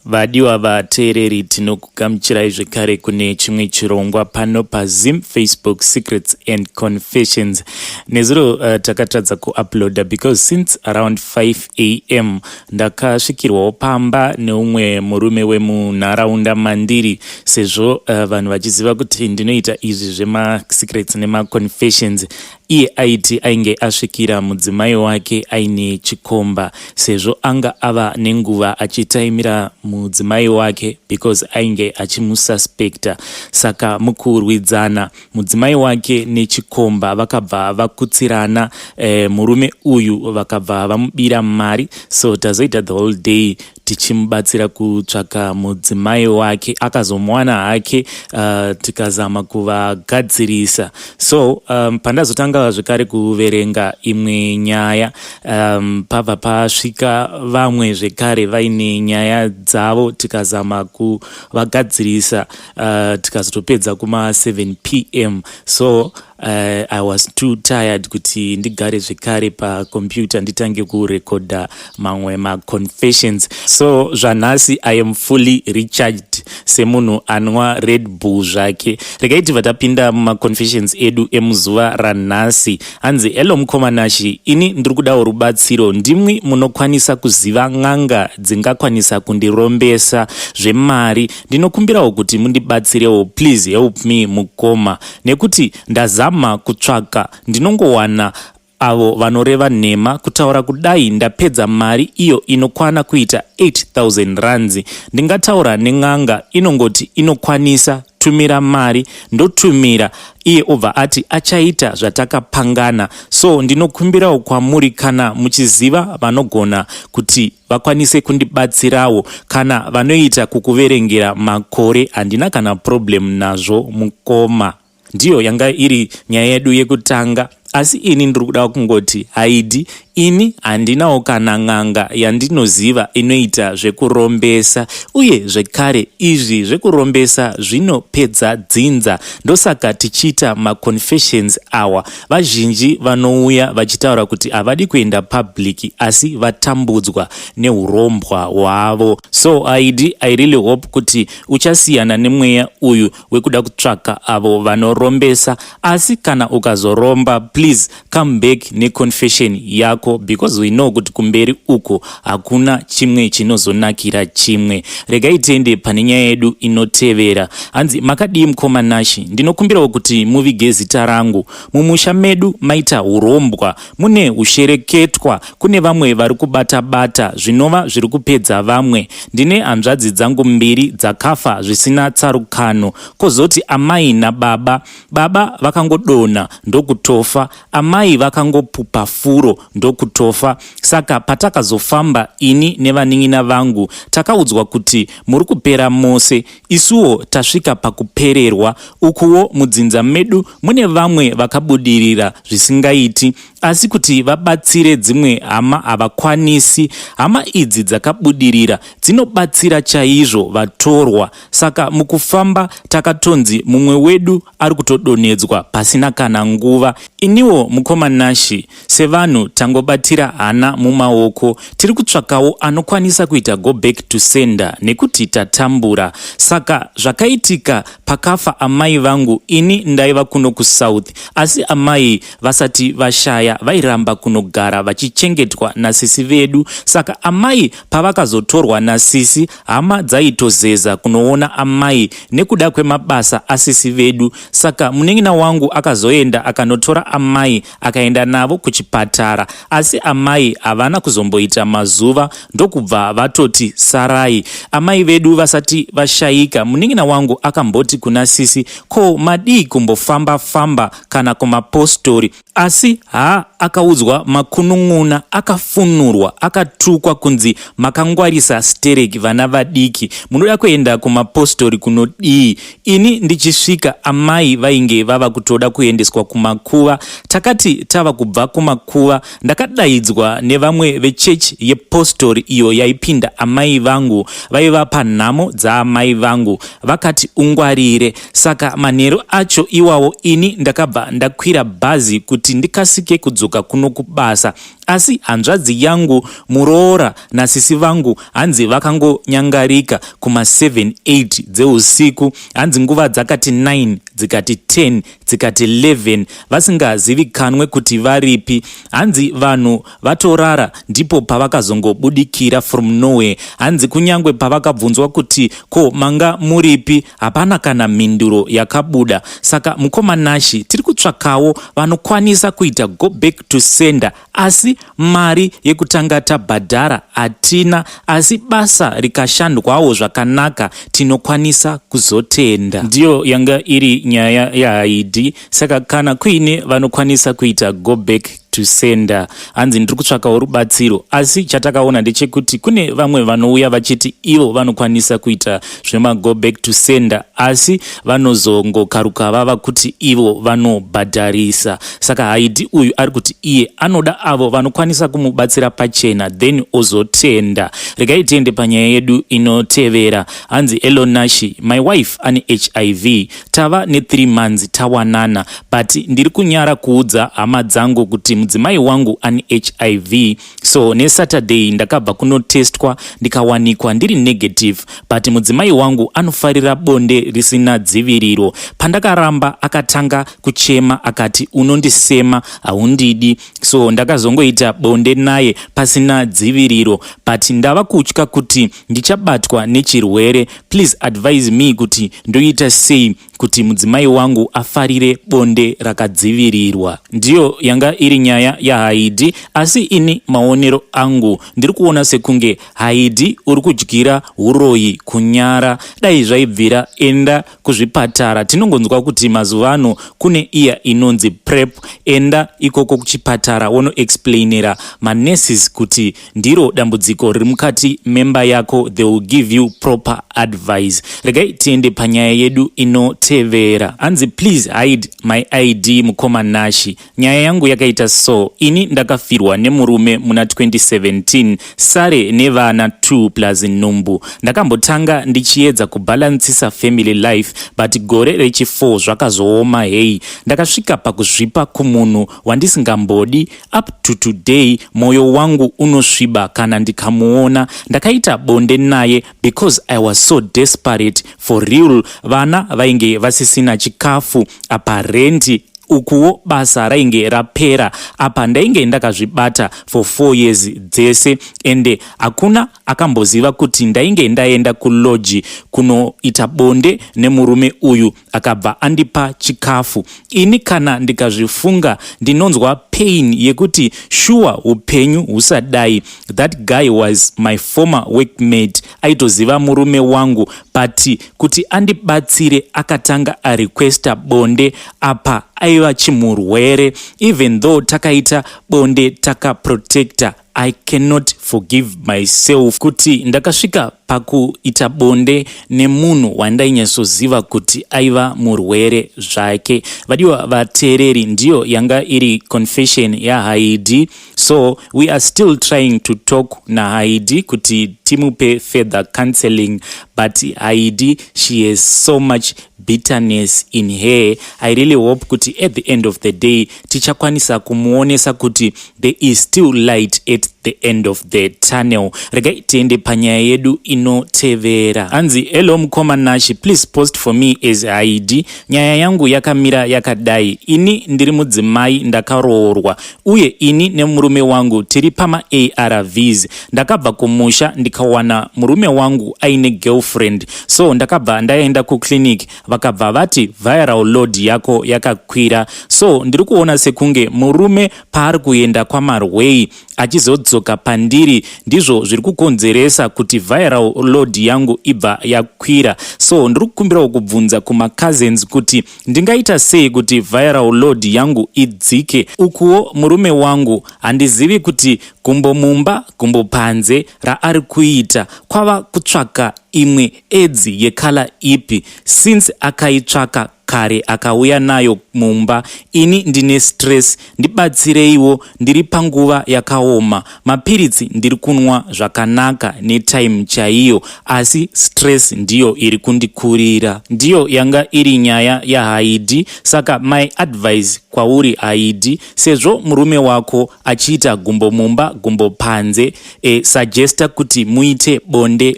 Vadiwa vateereri tinokugamuchirai zvekare kune chimwe chirongwa pano pazim facebook secrets and confessions nezuro uh, takatadza kuuploada because since around 5 a m ndakasvikirwawo pamba neumwe murume wemunharaunda mandiri sezvo uh, vanhu vachiziva kuti ndinoita izvi zvemasecrets nemaconfessions Iye aiti ainge asvikira mudzimai wake aine chikomba sezvo anga ava nenguva achitaimira mudzimai wake because ainge achimususpecta saka mukurwidzana mudzimai wake nechikomba vakabva vakutsirana eh, murume uyu vakabva vamubira mari so tazoita the whole day tichimubatsira kutsvaka mudzimai wake akazomuwana hake uh, tikazama kuvagadzirisa so um, pandazotanga zvekare kuverenga imwe nyaya um, pabva pasvika vamwe zvekare vaine nyaya dzavo tikazama kuvagadzirisa uh, tikazotopedza kuma 7 pm so Uh, i was too tired kuti ndigare zvekare pacomputer nditange kurekodha mamwe maconfessions so zvanhasi i am fully recharged semunhu anwa red bull zvake regai tibva tapinda mumaconfessions edu emuzuva ranhasi hanzi hello mukomanashi ini ndiri kudawo rubatsiro ndimwi munokwanisa kuziva n'anga dzingakwanisa kundirombesa zvemari ndinokumbirawo kuti mundibatsirewo please help me mukoma nekuti ndazama kutsvaga ndinongowana avo vanoreva nhema kutaura kudai ndapedza mari iyo inokwana kuita 8000 ranzi ndingataura nen'anga inongoti inokwanisa tumira mari ndotumira iye obva ati achaita zvatakapangana so ndinokumbirawo kwamuri kana muchiziva vanogona kuti vakwanise kundibatsirawo kana vanoita kukuverengera makore handina kana problem nazvo mukoma ndiyo yanga iri nyaya yedu yekutanga asi ini ndiri kuda kungoti haidi ini handinawo kana n'anga yandinoziva inoita zvekurombesa uye zvekare izvi zvekurombesa zvinopedza dzinza ndosaka tichiita maconfessions awa Vazhinji vanouya vachitaura kuti havadi kuenda public asi vatambudzwa nehurombwa hwavo. So Aid, I really hope kuti uchasiyana nemweya uyu wekuda kutsvaka avo vanorombesa asi kana ukazoromba please come back neconfession yako because we know kuti kumberi uko hakuna chimwe chinozonakira chimwe regai tiende pane nyaya yedu inotevera hanzi makadii mukoma nashi ndinokumbirawo kuti muvige zita rangu mumusha medu maita urombwa mune ushereketwa kune vamwe vari kubata bata zvinova zviri kupedza vamwe ndine hanzvadzi dzangu mbiri dzakafa zvisina tsarukano kozoti amai nababa baba vakangodona ndokutofa Amai vakangopupa furo ndokutofa. Saka patakazofamba ini nevanin'ina vangu takaudzwa kuti muri kupera mose. Isuwo tasvika pakupererwa. Ukuwo mudzinza medu mune vamwe vakabudirira zvisingaiti asi kuti vabatsire dzimwe hama havakwanisi. Hama idzi dzakabudirira dzinobatsira chaizvo vatorwa Saka mukufamba takatonzi mumwe wedu ari kutodonhedzwa pasina kana nguva. Iniwo mukoma Nashi, sevanhu tangobatira hana mumaoko, tiri kutsvakawo anokwanisa kuita go back to sender nekuti tatambura. Saka zvakaitika pakafa amai vangu ini ndaiva kuno kusouth asi amai vasati vashaya vairamba kunogara vachichengetwa nasisi vedu. Saka amai pavakazotorwa nasisi Hama dzaitozeza kunoona amai nekuda kwemabasa asisi vedu saka munin'ina wangu akazoenda akanotora amai akaenda navo kuchipatara asi amai havana kuzomboita mazuva ndokubva vatoti sarai amai vedu vasati vashaika munin'ina wangu akamboti kuna sisi ko madii kumbofamba famba kana kumapostori Asi haa akaudzwa makunun'una akafunurwa akatukwa kunzi makangwarisa stereki vana vadiki munoda kuenda kumapostori kunodii ini ndichisvika amai vainge vava kutoda kuendeswa kumakuva takati tava kubva kumakuva ndakadaidzwa nevamwe vechechi yepostori iyo yaipinda amai vangu vaiva panhamo dzaamai vangu vakati ungwarire Saka manheru acho iwawo ini ndakabva ndakwira bhazi kuti ndikasike kudzoka kuno kubasa. Asi hanzvadzi yangu, muroora nasisi vangu hanzi vakangonyangarika kuma 7, 8 dzeusiku. Hanzi nguva dzakati 9, dzikati 10, dzikati 11 vasingazivikanwe kuti varipi. Hanzi vanhu vatorara ndipo pavakazongobudikira from nowhere. Hanzi kunyangwe pavakabvunzwa kuti ko manga muripi Hapana kana mhinduro yakabuda saka mukoma Nashi tiri kutsvakawo vanokwanisa kuita go back to sender asi mari yekutanga tabhadhara hatina asi basa rikashandwawo zvakanaka tinokwanisa kuzotenda. Ndiyo yanga iri nyaya yaHaidi saka kana kuine vanokwanisa kuita go back to sender hanzi ndiri kutsvakawo rubatsiro asi chatakaona ndechekuti kune vamwe vanouya vachiti ivo vanokwanisa kuita zvemago back to sender asi vanozongokaruka vava kuti ivo vanobhadharisa saka haidi uyu ari kuti iye anoda avo vanokwanisa kumubatsira pachena then ozotenda regai tiende panyaya yedu inotevera hanzi elonashi my wife ane hiv Tava ne three months tawanana but ndiri kunyara kuudza hama dzangu kuti mudzimai wangu ane hiv so nesaturday ndakabva kunotestwa ndikawanikwa ndiri negative but mudzimai wangu anofarira bonde risina dziviriro. Pandakaramba akatanga kuchema akati unondisema haundidi so ndakazongoita bonde naye pasina dziviriro but ndava kutya kuti ndichabatwa nechirwere please advise me kuti ndoita sei kuti mudzimai wangu afarire bonde rakadzivirirwa ndiyo yanga iri nyaya yahaidi asi ini maonero angu ndiri kuona sekunge haidi uri kudyira uroyi kunyara dai zvaibvira enda kuzvipatara tinongonzwa kuti mazuva ano kune iya inonzi prep enda ikoko kuchipatara wonoexplainera manurses kuti ndiro dambudziko riri mukati memba yako they will give you proper advice regai tiende panyaya yedu inotevera hanzi please hide my id mukoma nashi Nyaya yangu yakaita so, ini ndakafirwa nemurume muna 2017 sare nevana 2 plus nhumbu. Ndakambotanga ndichiedza kubalancisa family life but gore rechi 4 zvakazooma heyi. Ndakasvika pakuzvipa kumunhu wandisingambodi up to today moyo wangu unosviba kana ndikamuona. Ndakaita bonde naye because I was so desperate for real vana vainge vasisina chikafu apa rendi ukuwo basa rainge rapera apa ndainge ndakazvibata for four years dzese ende hakuna akamboziva kuti ndainge ndaenda kuloji kunoita bonde nemurume uyu akabva andipa chikafu ini kana ndikazvifunga ndinonzwa pain yekuti shuwa upenyu husadai that guy was my former workmate aitoziva murume wangu but kuti andibatsire akatanga arequesta bonde apa aiva chimurwere even though takaita bonde takaprotecta I cannot forgive myself kuti ndakasvika pakuita bonde nemunhu wandainyasoziva kuti aiva murwere zvake. Vadiwa vateereri, ndiyo yanga iri confession yaHaidi, so we are still trying to talk naHaidi kuti timupe further counseling, but Haidi she has so much bitterness in her. I really hope kuti at the end of the day tichakwanisa kumuonesa kuti There is still light at the end of the tunnel. Regai tiende panyaya yedu inotevera. Hanzi, hello mukoma Nashi, please post for me as Haidi. Nyaya yangu yakamira yakadai. Ini ndiri mudzimai ndakaroorwa uye ini nemurume wangu tiri pama ARVs. Ndakabva kumusha ndikawana murume wangu aine girlfriend. So ndakabva ndaenda kuclinic vakabva vati viral load yako yakakwira. So ndiri kuona sekunge murume paari kuenda kwamarwei achizodzoka pandiri ndizvo zviri kukonzeresa kuti viral load yangu ibva yakwira so ndiri kukumbirawo kubvunza kumacousins kuti ndingaita sei kuti viral load yangu idzike ukuwo murume wangu handizivi kuti gumbo mumba gumbo panze raari kuita kwava kutsvaka imwe edzi yekala ipi since akaitsvaka kare akauya nayo mumba ini ndine stress ndibatsireiwo ndiri panguva yakaoma mapiritsi ndiri kunwa zvakanaka netime chaiyo asi stress ndiyo iri kundikurira ndiyo yanga iri nyaya yahaidi saka my advice kwauri haidi sezvo murume wako achiita gumbo mumba gumbo panze e, suggesta kuti muite bonde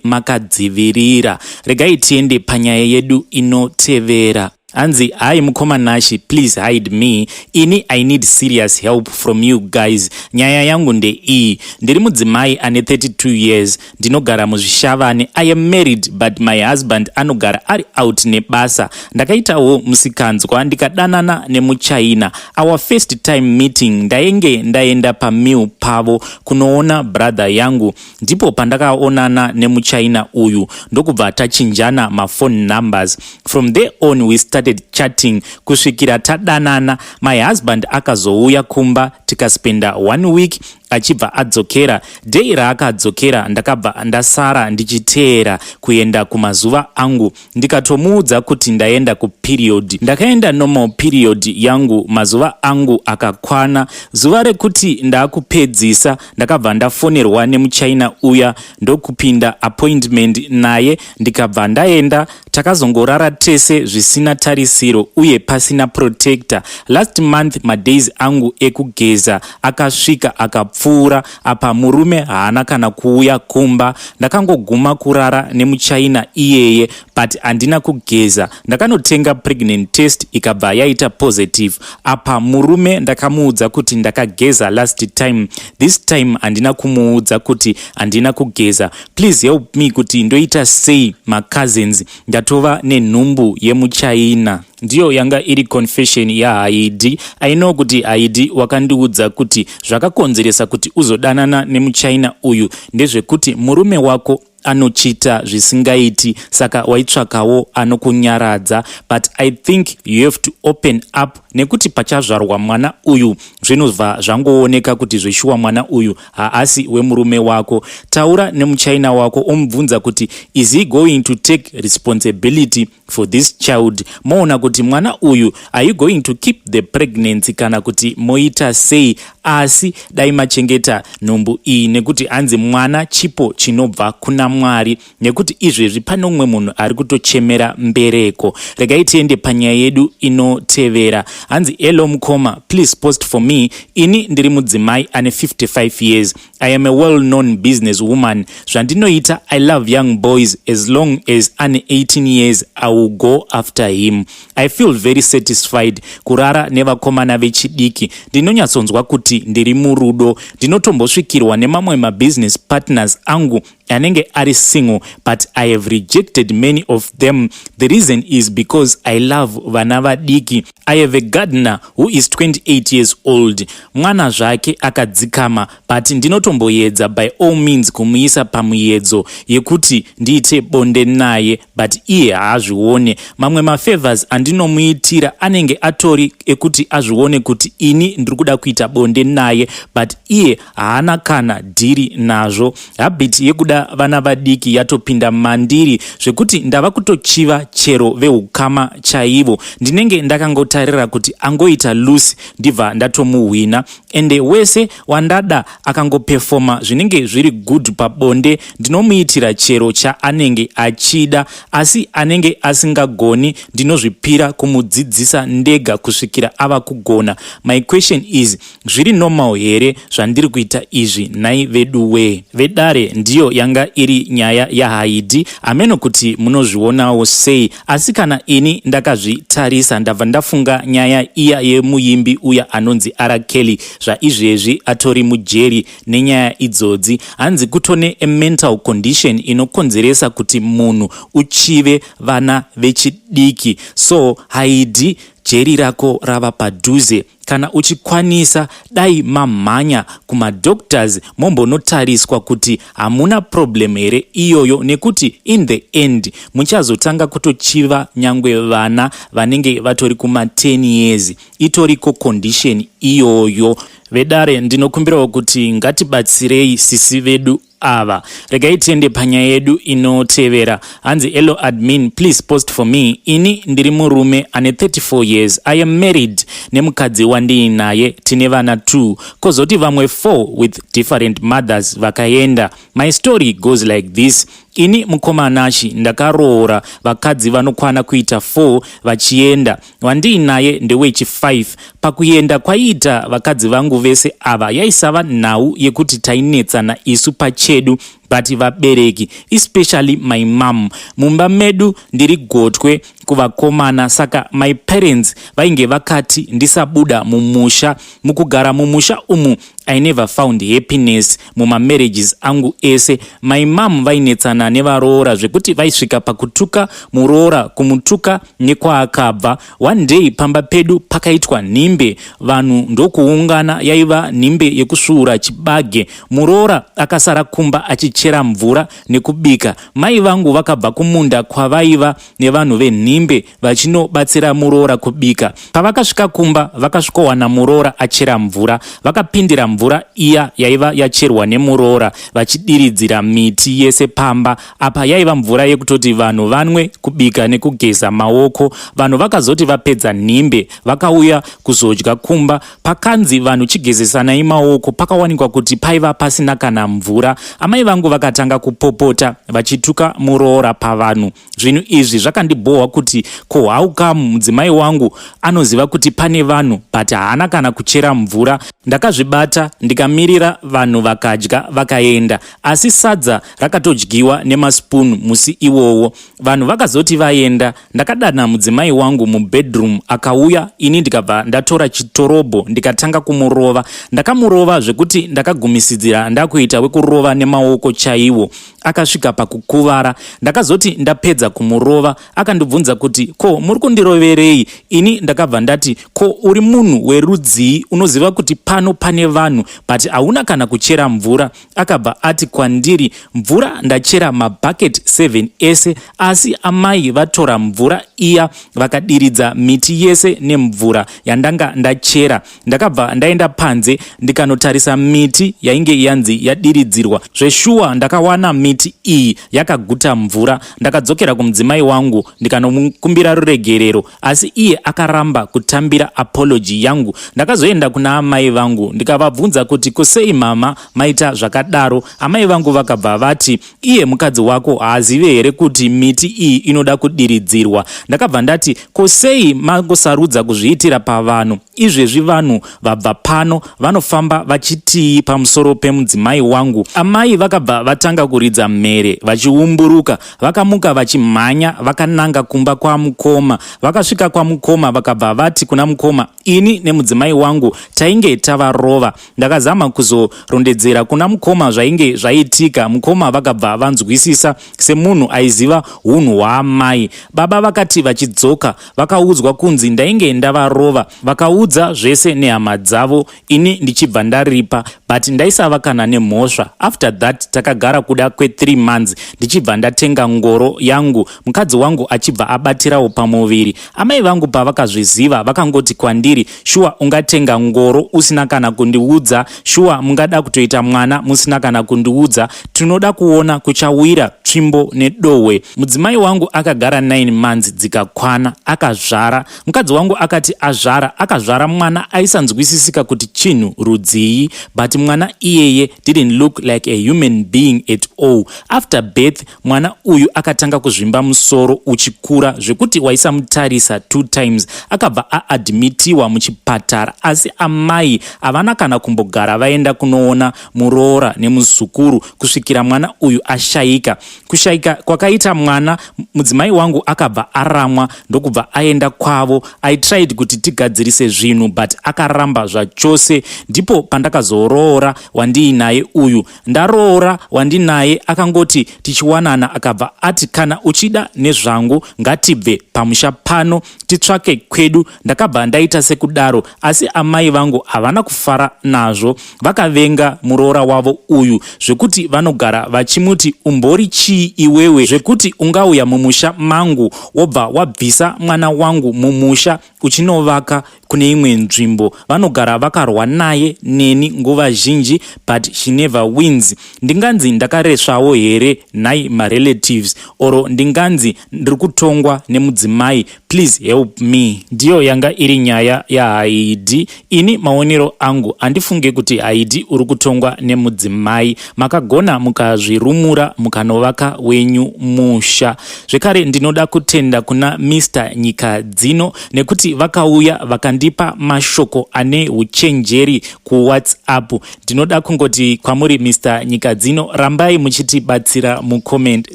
makadzivirira. Regai tiende panyaya yedu inotevera. Anzi, hi mukoma Nashi, please hide me. Ini I need serious help from you guys. Nyaya yangu ndeiyi. Ndiri mudzimai ane 32 years. Ndinogara muzvishavane. I am married but my husband anogara ari out nebasa. Ndakaitawo musikanzwa ndikadanana nemuchina. Our first time meeting ndainge ndaenda pameal pavo. kunoona brother yangu ndipo pandakaonana nemuchina uyu ndokubva tachinjana maphone numbers from there on we started chatting kusvikira tadanana my husband akazouya kumba tikaspenda one week achibva adzokera dei raakadzokera ndakabva ndasara ndichiteera kuenda kumazuva angu ndikatomuudza kuti ndaenda kuperiod ndakaenda normal period yangu mazuva angu akakwana zuva rekuti ndaakupedzisa ndakabva ndafonerwa nemuchina uya ndokupinda appointment naye ndikabva ndaenda takazongorara tese zvisina tarisiro uye pasina protector last month madays angu ekugeza akasvika akapfuura apa murume haana kana kuuya kumba ndakangoguma kurara nemuchina iyeye but handina kugeza ndakanotenga pregnant test ikabva yaita positive apa murume ndakamuudza kuti ndakageza last time this time handina kumuudza kuti handina kugeza please help me kuti ndoita sei macousins ndatova nenhumbu yemuchina ndiyo yanga iri confession yahaidi aino kuti haidi wakandiudza kuti zvakakonzeresa kuti uzodanana nemuchina uyu ndezvekuti murume wako anochita zvisingaiti saka waitsvakawo anokunyaradza but i think you have to open up nekuti pachazvarwa mwana uyu zvinobva zvangooneka kuti zveshuwa mwana uyu haasi wemurume wako taura nemuchina wako omubvunza kuti is he going to take responsibility for this child moona kuti mwana uyu are you going to keep the pregnancy kana kuti moita sei asi dai machengeta nhumbu iyi nekuti hanzi mwana chipo chinobva kuna mwari nekuti izvezvi pane umwe munhu ari kutochemera mbereko regai tiende panyaya yedu inotevera hanzi elo mukoma please post for me ini ndiri mudzimai ane 55 years I am a well known business woman zvandinoita I love young boys as long as ane 18 years I will go after him I feel very satisfied kurara nevakomana vechidiki ndinonyatsonzwa kuti ndiri murudo ndinotombosvikirwa nemamwe mabusiness partners angu anenge ari single but i have rejected many of them the reason is because i love vana vadiki i have a gardener who is 28 years old mwana zvake akadzikama but ndinotomboyedza by all means kumuisa pamuyedzo yekuti ndiite bonde naye but iye haazvione mamwe mafavors andinomuitira anenge atori ekuti azvione kuti ini ndiri kuda kuita bonde naye but iye haana kana dhiri nazvo habit yekuda vana vadiki yatopinda mandiri zvekuti ndava kutochiva chero veukama chaivo ndinenge ndakangotarira kuti angoita lucy ndibva ndatomuhwina ende wese wandada akangopefoma zvinenge zviri good pabonde ndinomuitira chero chaanenge achida asi anenge asingagoni ndinozvipira kumudzidzisa ndega kusvikira ava kugona my question is zviri normal here zvandiri kuita izvi nhai vedu wee vedare ndiyo yanga iri nyaya yahaidi ameno kuti munozvionawo sei Asi kana ini ndakazvitarisa ndabva ndafunga nyaya iya yemuimbi uya anonzi R Kelly zvaizvezvi atori mujeri nenyaya idzodzi. Hanzi kutone a mental condition inokonzeresa kuti munhu uchive vana vechidiki so haidi jeri rako rava padhuze. Kana uchikwanisa dai mamhanya kumadoctors mombonotariswa kuti hamuna problem here iyoyo nekuti in the end muchazotanga kutochiva nyangwe vana vanenge vatori kuma 10 years itoriko condition iyoyo. Vedare ndinokumbirawo kuti ngatibatsirei sisi vedu ava regai tiende panyaya yedu inotevera hanzi elo admin please post for me ini ndiri murume ane 34 years i am married nemukadzi wandiinaye tine vana 2 kozoti vamwe 4 with different mothers vakaenda my story goes like this ini mukoma anashi ndakaroora vakadzi vanokwana kuita 4 vachienda wandiinaye ndewechi 5 pakuenda kwaiita vakadzi vangu vese ava yaisava nhau yekuti tainetsana isu pachedu but vabereki especially my mom mumba medu ndiri gotwe kuvakomana saka my parents vainge vakati ndisabuda mumusha mukugara mumusha umu i never found happiness mumamarriages angu ese my mom vainetsana nevaroora zvekuti vaisvika pakutuka muroora kumutuka nekwaakabva one day pamba pedu pakaitwa nhimbe vanhu ndokuungana yaiva nhimbe yekusvuura chibage muroora akasara kumba achichera mvura nekubika mai vangu vakabva kumunda kwavaiva nevanhu venhimbe vachinobatsira muroora kubika pavakasvika kumba vakasvikowana muroora achera mvura vakapindira mvura iya yaiva yacherwa nemuroora vachidiridzira miti yese pamba Apa yaiva mvura yekutoti vanhu vanwe, kubika nekugeza maoko. Vanhu vakazoti vapedza nhimbe vakauya kuzodya kumba. Pakanzi vanhu chigezesanai maoko pakawanikwa kuti paiva pasina kana mvura. Amai vangu vakatanga kupopota vachituka muroora pavanhu. Zvinhu izvi zvakandibhohwa kuti ko how come mudzimai wangu anoziva kuti pane vanhu but haana kana kuchera mvura. Ndakazvibata ndikamirira vanhu vakadya vakaenda asi sadza rakatodyiwa nemaspoon musi iwowo vanhu vakazoti vaenda ndakadana mudzimai wangu mubedroom akauya ini ndikabva ndatora chitorobho ndikatanga kumurova ndakamurova zvekuti ndakagumisidzira ndakuita wekurova nemaoko chaiwo akasvika pakukuvara ndakazoti ndapedza kumurova akandibvunza kuti ko muri kundiroverei ini ndakabva ndati ko uri munhu werudzii unoziva kuti pano pane vanhu but hauna kana kuchera mvura akabva ati kwandiri mvura ndachera mabhaketi 7 ese asi amai vatora mvura iya vakadiridza miti yese nemvura yandanga ndachera ndakabva ndaenda panze ndikanotarisa miti yainge yanzi yadiridzirwa zveshuwa ndakawana miti iyi yakaguta mvura ndakadzokera kumudzimai wangu ndikanomukumbira ruregerero asi iye akaramba kutambira apology yangu ndakazoenda kuna amai vangu ndikavabvunza kuti kusei mama maita zvakadaro amai vangu vakabva vati iye mukadzi wako haazive here kuti miti iyi inoda kudiridzirwa ndakabva ndati kusei mangosarudza kuzviitira pavanhu izvezvi vanhu vabva pano vanofamba vachitii pamusoro pemudzimai wangu amai vakabva vatanga kuridza mhere vachiumburuka Vakamuka vachimhanya vakananga kumba kwamukoma. Vakasvika kwamukoma vakabva vati kuna mukoma, ini nemudzimai wangu tainge tavarova. Ndakazama kuzorondedzera kuna mukoma zvainge zvaitika. Mukoma vakabva vanzwisisa semunhu aiziva hunhu hwaamai. Baba vakati vachidzoka vakaudzwa kunzi ndainge ndavarova. Vakaudza zvese nehama dzavo ini ndichibva ndaripa but ndaisava kana nemhosva after that takagara kuda kwethree months ndichibva ndatenga ngoro yangu mukadzi wangu achibva abatirawo pamuviri amai vangu pavakazviziva vakangoti kwandiri shuwa ungatenga ngoro usina kana kundiudza shuwa mungada kutoita mwana musina kana kundiudza tinoda kuona kuchawira tsvimbo nedohwe mudzimai wangu akagara 9 months dzikakwana akazvara Mukadzi wangu akati azvara akazvara mwana aisanzwisisika kuti chinhu rudzii but mwana iyeye didn't look like a human being at all. After birth mwana uyu akatanga kuzvimba musoro uchikura zvekuti waisamutarisa two times. Akabva aadmitiwa muchipatara asi amai havana kana kumbogara vaenda kunoona muroora nemuzukuru kusvikira mwana uyu ashaika. Kushaika kwakaita mwana mudzimai wangu akabva aramwa ndokubva aenda kwavo. I tried kuti tigadzirise zvinhu but akaramba zvachose. Ndipo pandakazoroora wandiinaye uyu. Ndaroora wandinaye akangoti tichiwanana akabva ati kana uchida nezvangu ngatibve pamusha pano titsvake kwedu ndakabva ndaita sekudaro asi amai vangu havana kufara nazvo vakavenga muroora wavo uyu zvekuti vanogara vachimuti umbori chii iwewe zvekuti ungauya mumusha mangu wobva wabvisa mwana wangu mumusha uchinovaka kune imwe nzvimbo vanogara vakarwa naye neni nguva zhinji but she never wins ndinganzi ndakaresvawo here nhai marelatives oro ndinganzi ndiri kutongwa nemudzimai Please help me. Ndiyo yanga iri nyaya yaHaidi. Ini maonero angu handifunge kuti Haidi uri kutongwa nemudzimai. Makagona mukazvirumura mukanovaka wenyu musha. Zvekare ndinoda kutenda kuna Mr Nyika dzino nekuti vakauya vakandipa mashoko ane huchenjeri kuWhatsApp. Ndinoda kungoti kwamuri Mr Nyika dzino rambai muchitibatsira mucomment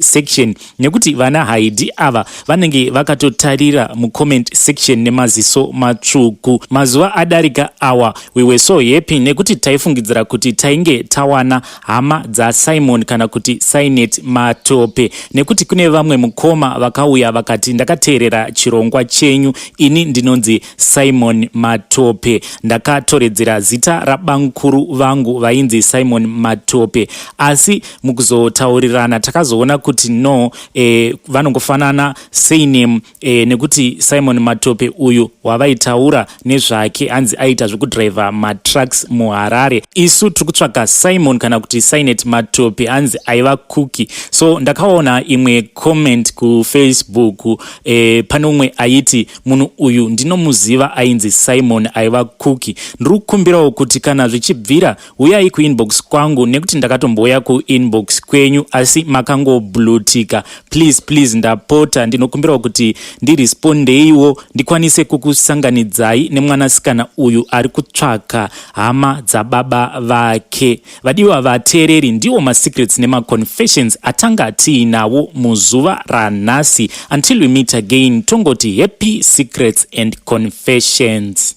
section. nekuti vana haidi ava vanenge vakatotarira mucomment section nemaziso matsvuku mazuva adarika awa we were so happy nekuti taifungidzira kuti tainge tawana hama dzasimon kana kuti sinet matope nekuti kune vamwe mukoma vakauya vakati ndakateerera chirongwa chenyu ini ndinonzi Simon Matope. Ndakatoredzera zita rabamkuru vangu vainzi Simon Matope asi mukuzotaurirana takazoona kuti no e, vanongofanana surname e, nekuti Simon Matope uyu wavaitaura nezvake hanzi aita zvekudriver matrucks muHarare. Isu tiri kutsvaga Simon kana kuti Sinet Matope hanzi aiva kuki. So ndakaona imwe comment kuFacebook e, pane umwe aiti munhu uyu ndinomuziva ainzi simon aiva kuki ndiri kukumbirawo kuti kana zvichibvira huyai kuinbox kwangu nekuti ndakatombouya kuinbox kwenyu asi makangoblutika please please ndapota ndinokumbirawo kuti ndirespondeiwo ndikwanise kukusanganidzai nemwanasikana uyu ari kutsvaka hama dzababa vake Vadiwa vateereri, ndiwo masecrets nemaconfessions atanga tiinawo muzuva ranhasi. Until we meet again, tongoti happy secrets and confessions.